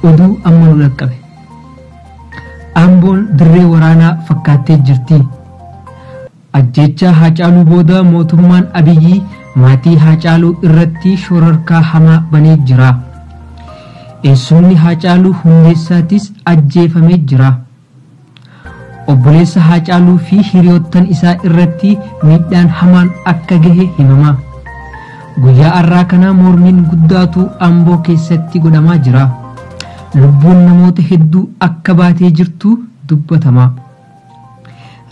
oduu amma nu dhaqqabe amboon dirree waraanaa fakkaattee jirti Ajjeechaa Haacaaluu booda mootummaan Abiyyi maatii Haacaaluu irratti shororkaa hamaa banee jira. Eessumni Haacaaluu Hundeessaatis ajjeefamee jira. Obboleessa Haacaaluu fi hiriyoottan isaa irratti miidhaan hamaan akka gahe himama. Guyyaa har'aa kana mormiin guddaatu Amboo keessatti godhamaa jira. Lubbuun namoota hedduu akka baatee jirtu dubbatama.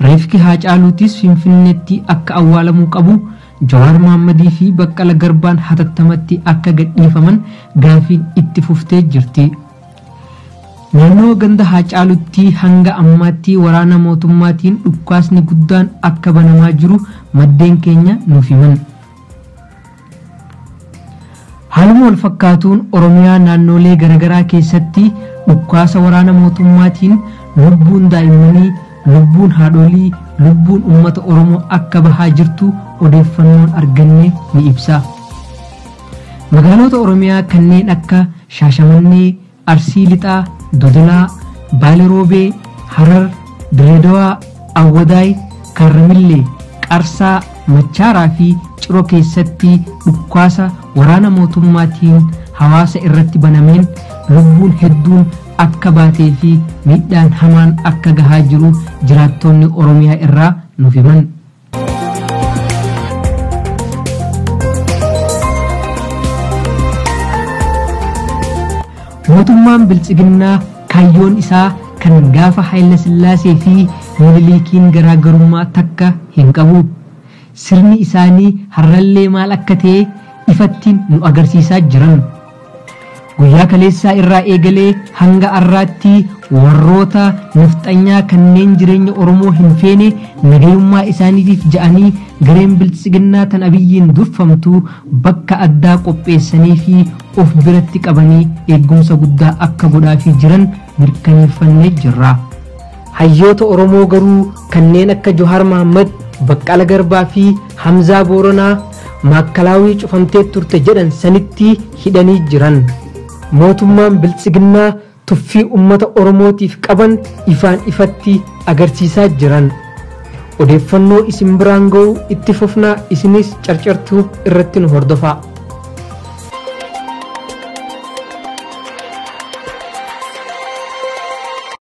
Reefki Haacaaluutis Finfinneetti akka awwaalamuu qabu, Jawaar Mohaammadii fi Baqqala Garbaan hatattamatti akka gadhiifaman gaafiin itti fuftee jirti. Naannoo ganda Haacaaluutti hanga ammaatti waraana mootummaatiin dhukkaasni guddaan akka banamaa jiru maddeen keenya nuuf himan. Haaluma walfakkaatuun Oromiyaa naannoolee garagaraa keessatti dhukkaasa waraana mootummaatiin lubbuun daa'immanii, lubbuun haadhoolii, lubbuun ummata Oromoo akka bahaa jirtu odeeffannoon arganne ni ibsa. Magaaloota Oromiyaa kanneen akka Shaashamannee, Arsii Lixaa, Dodolaa, Baale Roobee, Harar, Dirree Dawaa, Awwadaay, Kaarramillee, Qarsaa, Machaaraa fi Ciro keessatti dhukkaasa waraana mootummaatiin hawaasa irratti banameen lubbuun hedduun akka baatee fi miidhaan hamaan akka gahaa jiru jiraattoonni Oromiyaa irraa nuuf himan. Mootummaan biltsiginnaa kaayyoon isaa kan gaafa Hayila Sillaasee fi Miniliikiin garaagarummaa takka hin qabu. Sirni isaanii har'allee maal akka ta'e ifatti nu agarsiisaa jiran. Guyyaa kaleessaa irraa eegalee hanga arraatti warroota nafxanyaa kanneen jireenya Oromoo hin feene nagayummaa isaaniitiif ja'anii gareen biltsiginnaa tan abiyyiin durfamtu bakka addaa qopheessanii fi of biratti qabanii eeggumsa guddaa akka godhaafii jiran mirkaneeffannee jirra. Hayyoota Oromoo garuu kanneen akka Johaar Mahaammad, Baqqala Garbaa fi Hamzaa Booranaa Maakkalaawii cufamtee turte jedhan sanitti hidhanii jiran. Mootummaan Biltsiginnaa tuffii ummata Oromootiif qaban ifaan ifatti agarsiisaa jiran. Odeeffannoo isin biraan ga'u itti fufna isinis Carcar Tube irratti nu hordofaa.